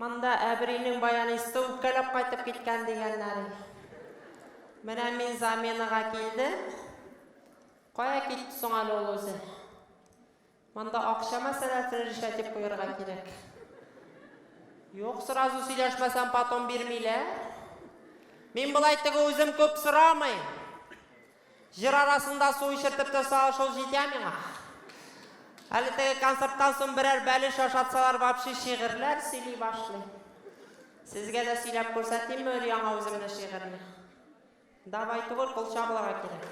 Монда әбринең баянисты үпкәләп кайтып киткән дигәннәр и. Менә мин заменага килдем. Кая китте соң әле ул үзе? Монда акча мәсьәләсен решать дип куярга кирәк. Юк, сразу сөйләшмәсәм, потом бирмиләр. Мин болай теге үзем күп сорамыйм. Җыр арасында су эчертеп торса шул җитә миңа. Әле теге концерттан соң берәр бәлеш ашатсалар вообще шигырьләр сөйли башлый. Сезгә дә сөйләп күрсәтимме өр-яңа үземнең шигырьне? Давай түгел, кул чабуларга кирәк.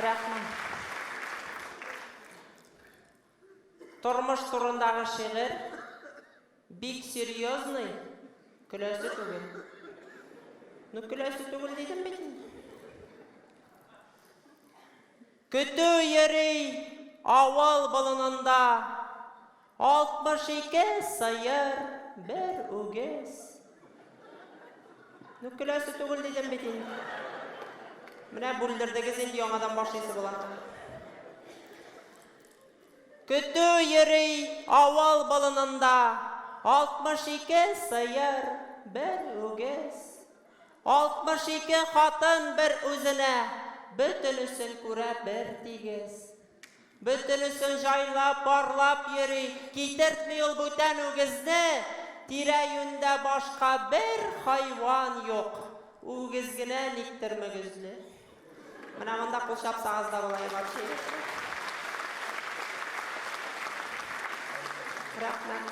Рәхмәт. Тормыш турындагы шигырь бик серьезный, көләсе түгел. Ну көләсе түгел дидем бит инде. Көтү йөри авыл болынында, 62 сыер, бер үгез. Ну көләсе түгел дидем бит инде. Менә бүлдердегез инде яңадан башлыйсы була. Көтү йөри авыл болынында, 62 сыер, бер үгез. 62 хатын бер үзенә, бөтенесен күрә бер тигез. Бөтенесен җайлап, парлап йөри, китертми ул бүтән үгезне, тирә-юньдә башка бер хайван юк, үгез генә никтер мөгезле. Менә монда кул чапсагыз да була и вообще. Рәхмәт.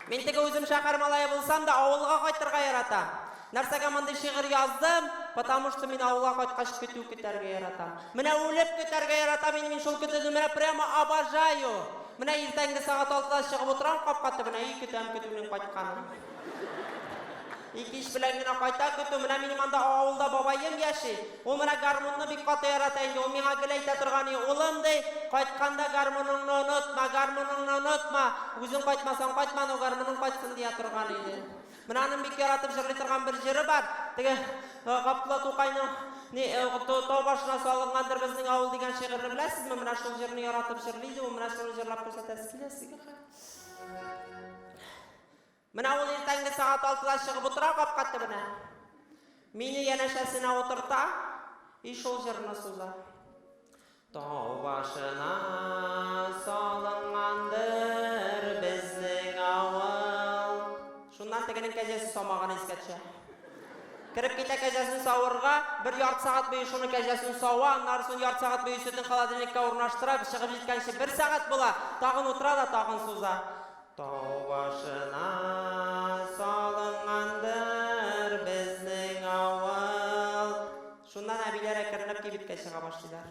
Мин теге үзем шәһәр малае булсам да, авылга кайтырга яратам. Нәрсәгә мондый шигырь яздым? Потому что мин авылга кайткач көтү көтәргә яратам. Менә үлеп көтәргә яратам инде мин шул көтүне, менә прямо обожаю! Менә иртәнге сәгать алтыда чыгып утырам капка төбенә и көтәм көтүнең кайтканын. И кич белән генә кайта көтү. Менә минем анда авылда бабаем яши. Ул менә гармунны бик каты ярата инде. Ул миңа гел әйтә торган и, улым, ди, кайтканда гармуныңны онытма, гармуныңны онытма. Үзең кайтмасаң кайтма, но гармуның кайтсын, дия торган иде. Менә аның бик яратып җырлый торган бер җыры бар. Теге Габдулла Тукайның ни, Тау башына салынгандыр безнең авыл дигән шигырьне беләсезме? Менә шул җырны яратып җырлый иде ул. Менә шуны җырлап күрсәтәсе килә сезгә хәзер. Менә ул иртәнге сәгать алтыда чыгып утыра капка төбенә. Мине янәшәсенә утырта, и шул җырны суза. Тау башына салынгандыр безнең авыл. Шуннан тегенең кәҗәсе самаган искә төшә. Кереп китә кәҗәсен савырга, бер ярты сәгать буе шуны кәҗәсен сава, аннары сон ярты сәгать буе сөтен холодильникка урнаштыра, чыгып җиткәнче бер сәгать була, тагын утыра да тагын суза. Тау башына салынгандыр безнең авыл. Шуннан әбиләр әкренләп кибеткә чыга башлыйлар.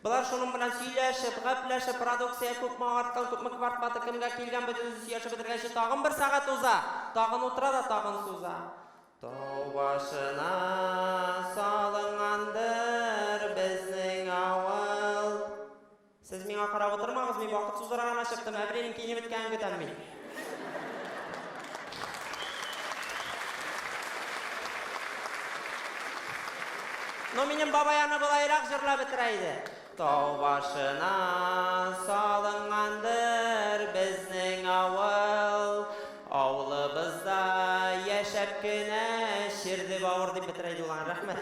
Болар шуның белән сөйләшеп, гәпләшеп, продукция күпме арткан, күпме квартплата кемгә килгән, бөтенесе сөйләшеп бетергәнче тагын бер сәгать уза. Тагын утыра да тагын суза. Тау башына салынгандыр безнең авыл. Сез миңа карап утырмагыз, мин вакыт сузарга гына чыктым, әбринең киенеп беткәнен көтәм мин. Ну, минем бабай аны болайрак җырлап бетерә иде. Тау башына салынгандыр безнең авыл, Авылыбызда яшәп кенә черде бавыр дип бетерә иде ул аны. Рәхмәт.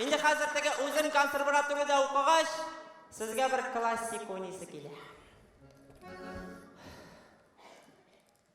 Инде хәзер теге үзем консерваториядә укыгач, сезгә бер классик уйныйсы килә.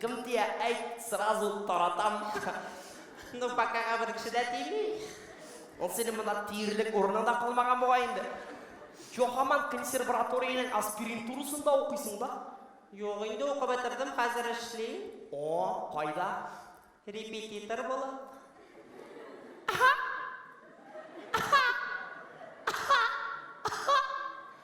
Кем тия, әйт, сразу таратам. Ну, покага бер кеше дә тими. Ул синең монда тиерлек урының да калмаган бугай инде. Чё, һаман консерваториянең аспиринтурасында укыйсың да? Юк, инде укып бетердем, хәзер эшлим. О, кайда? Репетитор булып.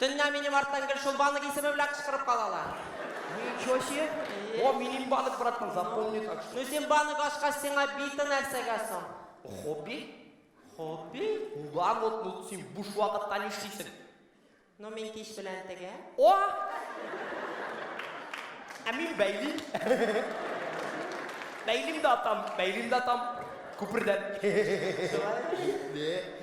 Төнлә минем арттан гел шул банык исеме белән кычкырып калалар. Ничего себе! О, минем банык, братан, запомни так что. Ну син банык ачкач сиңа биты нәрсәгә соң? Хобби? Хобби? Да, вот, ну син буш вакытта нишлисең? Ну мин кич белән тегә. О! Ә мин бәйлим. Бәйлим дә атам, бәйлим дә атам. Күпердән. Шулай.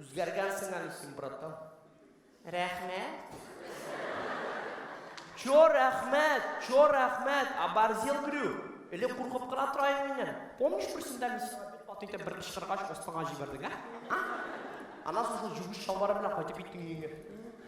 Үзгәргәнсең әле син, братан. Рәхмәт. Чо рәхмәт, чо рәхмәт, оборзел грю. Элек куркып кына тора идем миннән. Помнишь, берсендә мин сиңа бик каты итеп бер кычкыргач, астыңа җибәрдең, ә? А? Аннан соң шул җүгеш чалбары белән кайтып киттең өеңә.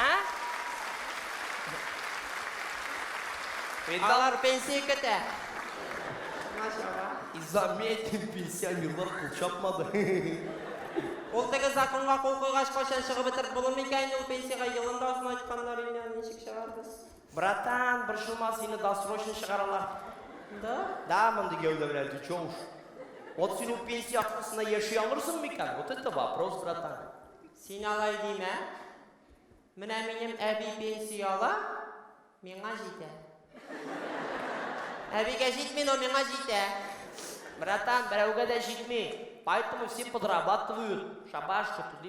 Ә? Алар пенсия көтә. Изаметин пенсионерлар кул чапмады. Ул теге законга кул куйгач, кайчан чыгып бетереп булыр микән? Ул пенсиягә елында озын айтканнар иде, ничек чыгарбыз? Братан, борчылма, сине досрочно чыгаралар. Да? Да, мондый гәүдә белән ты чё уж. Вот син ул пенсия акысына яши алырсың микән? Вот это вопрос, братан. Син алай димә. Менә минем әби пенсия ала, миңа җитә. Әбигә җитми, но миңа җитә. Братан, берәүгә дә җитми. Поэтому все подрабатывают. Шабаш, что ты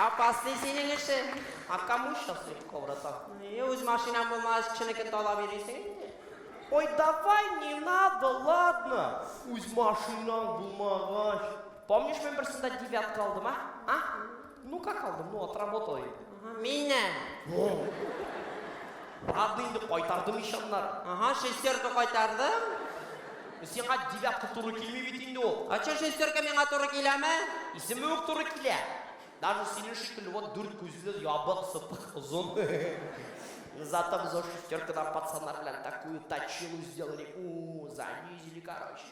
Апасный синең эше. Акамуш та сөреп каурата. Е, үз машинам булмагач, кешенекен талап йөрисең инде. Ой, давай, не надо, ладно. Үз машинаң булмагач. Помнишь, мин берсендә девятка алдым, а? А? Ну как алдым, ну отработал инде. Мине. Ладно инде кайтардым ишаннар. Ага, шестерка кайтардым. Сиңа девятка туры килми бит инде ул. А че шестерка миңа туры киләме? Исеме үк туры килә. Даже синең шикелле вот дүрт күзле, ябык, сыпык, озын. Зато без шестеркадан пацаннар белән такую точилу сделали. У, занизили, короче.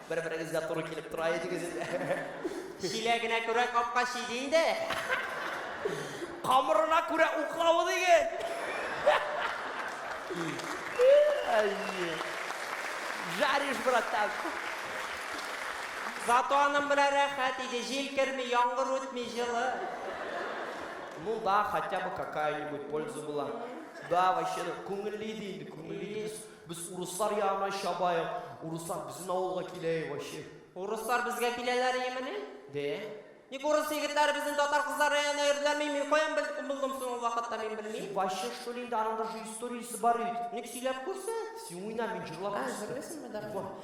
Бер-берегезгә туры килеп тора идегез инде. Чиләгенә күрә капка чиде инде. Камырына күрә уклавы диген. Жаришь, братан. Зато аның белән рәхәт иде, җил керми, яңгыр үтми, җылы. Ну да, хотя бы какая-нибудь польза була. Да, вообще, күңелле иде инде, күңелле иде. Без урыслар ягына чабаек, урыслар безнең авылга килә и вообще. Урыслар безгә киләләр имени? Дә. Ник урыс егетләре безнең татар кызлары янына йөрделәрме? Мин каян белдем, булдым соң ул вакытта мин белмим. Ваще что ли инде аның даже историясе бар бит. Ник сөйләп күрсәт. Син уйна, мин җырлап А, күрсәтәм. җырлыйсыңмы, да? Вот.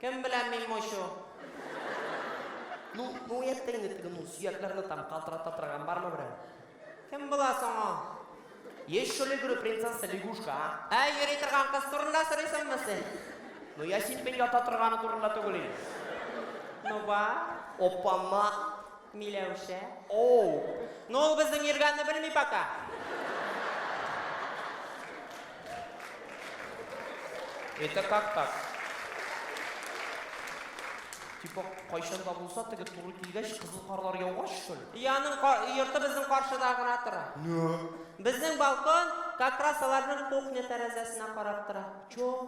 Кем белән мин мочу? Ну, ну әйтте инде теге, ну, сөякләрне там калтырата торган бармы берәү? Кем була соң ул? Есть что ли, говорю, принцесса лягушка, а? Ә, йөри торган кыз турында сорыйсыңмы син? Ну, я синпен ята торганы турында түгел инде. Ну, бар. Опама! Миләүшә. Оу! Ну ул безнең йөргәнне белми пока. Это как так? Типа кайчан да булса теге туры килгәч кызыл карлар яугач что ли? И аның ка- йорты безнең каршыда гына тора. Безнең балкон как раз аларның кухня тәрәзәсенә карап тора.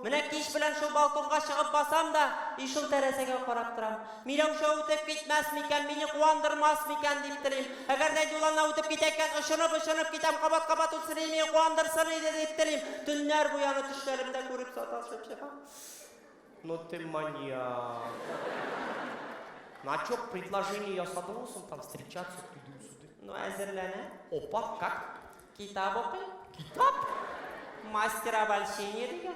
Менә кич белән шул балконга чыгып басам да, и шул тәрәзәгә карап торам. Миләүшә үтеп китмәс микән, мине куандырмас микән, дип телим. Әгәр дә юлына үтеп китә икән, очынып-очынып китәм, кабат-кабат үтсен иде, мине куандырсын иде, дип телим. Төннәр буе аны төшләремдә күреп саташып чыгам. Ну ты маньяк. На чё предложение ясадыңмы соң там встречаться, тудым-судым? Ну әзерләнәм. Опа, как? Китап укый. Китап? Мастер обольщения дигән.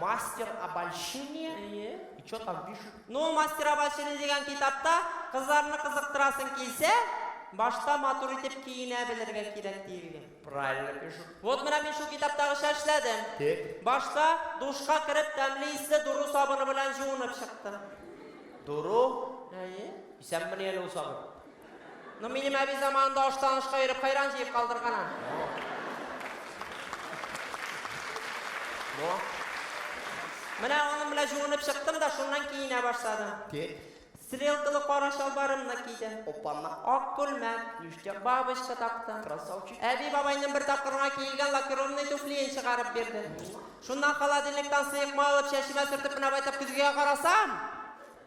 Мастер обольщения? Әйе. И что там пишут? Ну, мастер обольщения дигән китапта кызларны кызыктырасың килсә, башта матур итеп киенә белергә кирәк диелгән. Правильно пишут. Вот менә мин шул китаптагыча эшләдем. Тик? Башта душка кереп тәмле исле дуру сабыны белән җуынып чыктым. Дуру? Әйе. Исәнмени әле ул сабын? Ну минем әби заманында аштан ашка йөреп хайран җыеп калдырган а. Менә аның белән җуынып чыктым да шуннан киенә башладым. Тик. Стрелкалы кара чалбарымны кидем. Оппана. Ак күлмәк. Ништяк. Бабочка тактым. Красавчик. Әби бабайның бер тапкыр гына киелгән лакированный туфлиен чыгарып бирде. Шуннан холодильниктан сыекма алып чәчемә сөртеп менә байтак көзгегә карасам.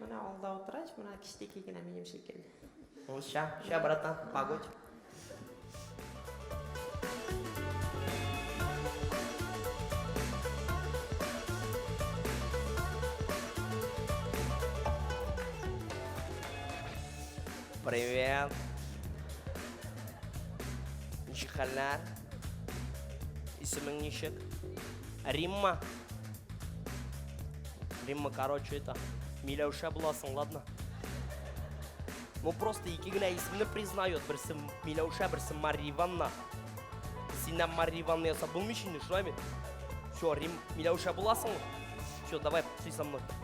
Менә алда утырач, менә кичтеки генә минем шикелле. Ул ща, ща, братан, погодь. Привет. Ничек хәлләр? Исемең ничек? Римма. Римма, короче, это, Миләүшә буласың, ладно? Ну, просто ике генә исемне признает. Берсе Миләүшә, берсе Мария Ивановна. Синнән Мария Ивановна ясап булмый шундый, шулай бит? Все, Рим, Миләүшә буласың. Все, давай, пси со мной.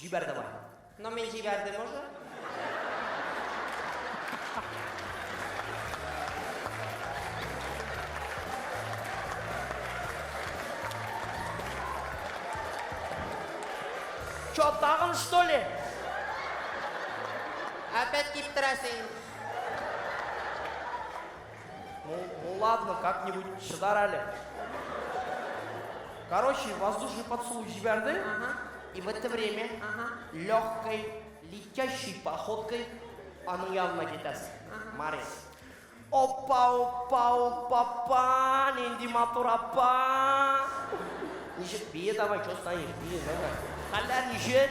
Җибәрде бар. Но мин җибәрдем уже. Чё, тагын что ли? Опять киптерәсең. Ну, ну ладно, как-нибудь шыдар әле. Короче, воздушный поцелуй җибәрде, Ага, и в это время ага, легкой, летящей походкой аның янына китәсең. Ага. Марис. Опа, опа, опа, па, нинди матур апа. Ничек бие давай, что стоишь, бие давай. Хәлләр ничек?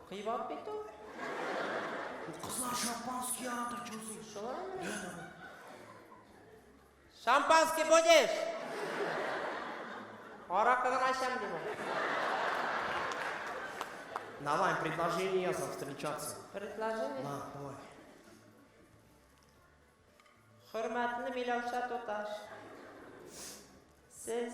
Кыйбат бит ул. Кызлар шампанский ярата, чузи. Шулаймы? Шампанский будешь? Аракы гына эчәм дип ул. Давай, предложение яза встречаться. Предложение? На, давай. Хөрмәтле Миләүшә туташ. Сез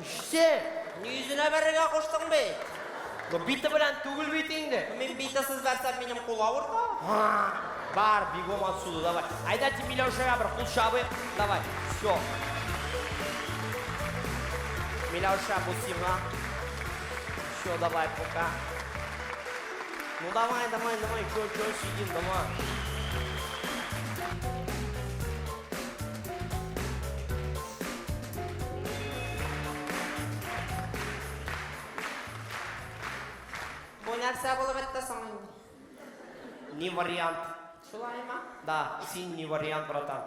Үчсе! Ни йөзенә бәрергә куштың бит? Ну бите белән түгел бит инде. Мин бите сыз бәрсәм, минем кул авырта. Бар, бигом отсюда, давай. Айда ди Миләүшәгә бер кул чабыйк. Давай, все. Миләүшә, бу сиңа. Все, давай, пока. Ну давай, давай, давай, чё, чё сидим, давай. Бу нәрсә булып бетте соң инде? Не вариант. Шулаймы? Да, син не вариант, братан.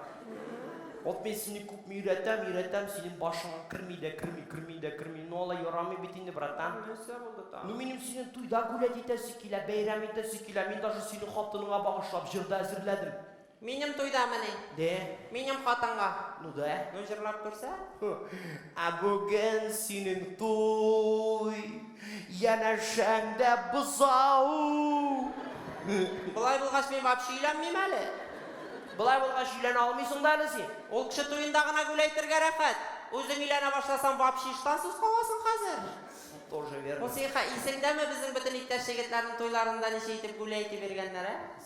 Вот мен сине күп өйрәтәм, өйрәтәм, синең башыңа керми дә, керми, керми дә, керми. Ну алай ярамый бит инде, братан. Нәрсә булды та? Ну минем синең туйда гулять итәсе килә, бәйрәм итәсе килә. Мин даже сине хатыныңа багышлап җырда әзерләдем. Минем туйдамыни? Дэ. Минем хатынга. Ну дэ. Ну җырлап күрсә? Ху. Ә бүген синең туй. Янәшәң дә бозау. Болай булгач мин вообще өйләнмим әле. Болай булгач өйләнә алмыйсың да әле син. Ул кеше туенда гына гүләйтергә рәхәт. Үзең өйләнә башласаң вообще иштансыз каласың хәзер. Тоже верно. Хусейха, исеңдәме безнең бөтен иптәш егетләрнең туйларында ничә итеп гүләйтеп йөргәннәр, ә?